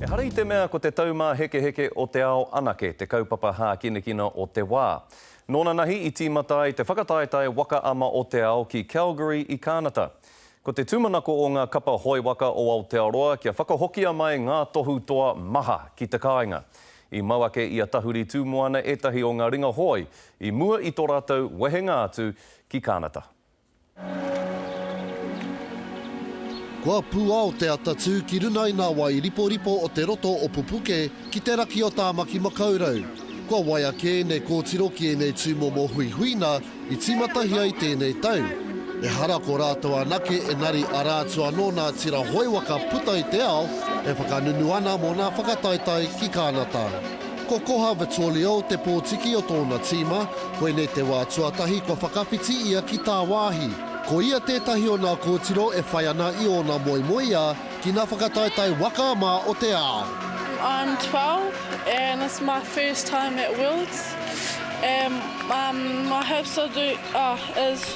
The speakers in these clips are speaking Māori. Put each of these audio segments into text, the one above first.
Ehara i te mea ko te taumāhekeheke o te ao anake te kaupapa hākinakina o te wā. Nōnanahi i tīmata ai te whakataetae Waka Ama o te Ao ki Calgary i Kānata. Ko te tūmanako o ngā kapa hoe waka o Aotearoa kia whakahokia mai ngā tohu toa maha ki te kāinga. I mau ake i a Tahuri Tūmoana ētahi o ngā ringa hoe i mua i tō rātou wehenga atu ki Kānata. Kua pūao te ata tū ki runga i ngā wai riporipo o te roto o Pupuke ki te raki o Tāmaki Makaurau. Kua waia kē ēnei kōtiro ki ēnei tūmomo huihuina i tīmatahia i tēnei tau. Ehara ko rātou anake engari arā atu anō ngā tira hoi waka puta i te ao e whakanunu ana mō ngā whakataetae ki Kānata. Ko Koha Vittorio te pōtiki o tōna tīma, koinei te wā tuatahi kua whakawhiti ia ki tāwāhi. Ko ia tētahi o nā kōtiro e whai ana i ōna moemoeā ki nā whakataetae waka mā o te ao. I'm twelve and it's my first time at Wills and my hopes is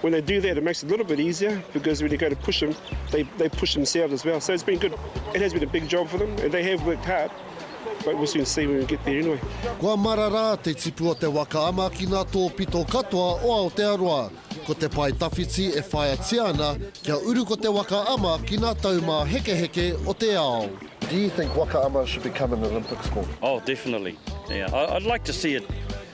When they do that it makes it a little bit easier because when you go to push them they they push themselves as well so it's been good it has been a big job for them and they have worked hard but we'll soon see when we get there anyway. Kua marara te tipu o te waka ama ki ngā tōpito katoa o Aotearoa. Ko te pae tawhiti e whāiatia ana kia uru ko te waka ama ki ngā taumāhekeheke o te ao. Do you think waka ama should become an Olympic sport? Oh definitely yeah I'd like to see it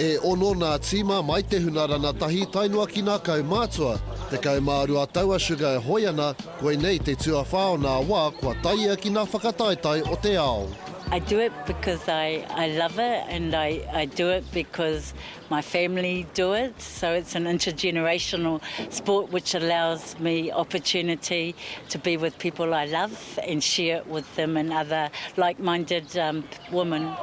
E ono nā tīma mai te huna ranatahi tae noa ki nā kaumātua. Tekau mā rua tau a Sugar e hoe ana, koinei te tuawhā o nā wā kua tae ia ki nā whakataetae o te ao. I do it because I I love it and I I do it because my family do it so it's an intergenerational sport which allows me opportunity to be with people I love. and share it with them and other like minded women.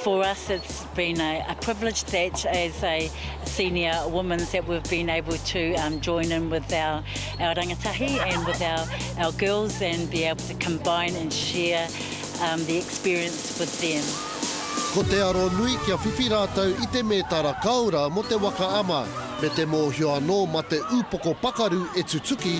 For us it's been a privilege that as a senior women that we've been able to join in with our rangatahi and with our girls and be able to combine and share the experience with them. Ko te aro nui kia whiwhi rātou i te mētara kaora mō te waka ama me te mōhio anō mā te upoko pakaru e tutuki